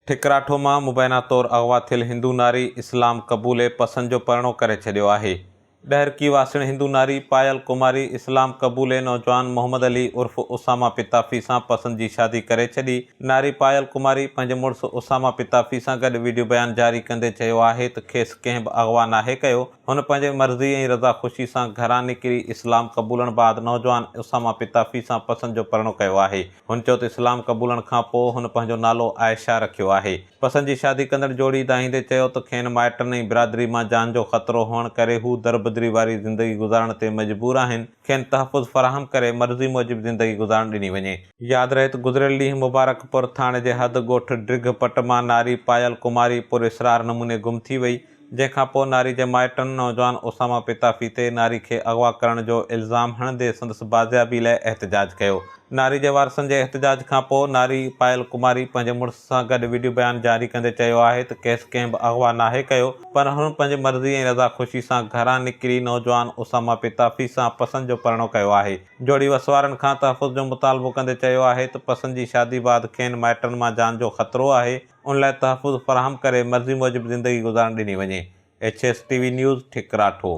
ٺڪراٺو مان مبينا طور اغوا ٿيل هندو ناري اسلام قبولي پسند جو پرڻو ڪري ڇڏيو آهي. ڏهرڪي واسڻ هندو ناري پايل ڪماري اسلام قبولي نوجوان محمد علي عرف اسامه پتافي سان پسند جي شادي ڪري ڇڏي. ناري پايل ڪماري پنهنجي مڙس اسامه پتافي سان گڏ وڊيو بيان جاري ڪندي چيو آهي ته کيس ڪنهن به اغوا ناهي ڪيو، هن پنهنجي مرضي ۽ رضا خوشي سان گهران نڪري اسلام قبولڻ بعد نوجوان اسامه پتافي سان پسن جو پرڻو ڪيو آهي. هن چيو ته اسلام قبولڻ کان پوء هن پنهنجو نالو عائشه رکيو آهي. پسن جي شادي ڪندڙ جوڙي دانهيندي چيو ته کين مائٽن ۽ برادري مان جان جو خطرو هئڻ ڪري هو دربدري واري زندگي گذارڻ تي مجبور آهن، کين تحفظ فراهم ڪري مرضي موجب زندگي گذارڻ ڏني وڃي. ياد رهي ته گذريل ڏينهن مبارڪ پور ٿاڻي جي حد ڳوٺ ڊگهه پٽ مان ناري پايل ڪماري پر اسرار نموني گم ٿي وئي جنهن کان پوء ناري جي مائٽن نوجوان اسامه پتافي تي ناري کي اغوا ڪرڻ جو الزام هڻندي سندس بازيابي لاء احتجاج ڪيو ناري جي وارثن جي احتجاج کان پوء ناري پائل ڪماري پنهنجي مڙس سان گڏ وڊيو بيان جاري ڪندي چيو آهي ته کيس ڪنهن به اغوا ناهي ڪيو پر هن پنهنجي مرضي ۽ رضا خوشي سان گهران نڪري نوجوان اسامه پتافي سان پسند جو پرڻو ڪيو آهي. جوڙي وسوارن کان تحفظ جو مطالبو ڪندي چيو آهي ته پسند جي شادي بعد کين مائٽن مان جان جو خطرو آهي ان لاء تحفظ فراهم ڪري مرضي موجب زندگي گذارڻ ڏني وڃي. H S T V news, ٺڪراٺو.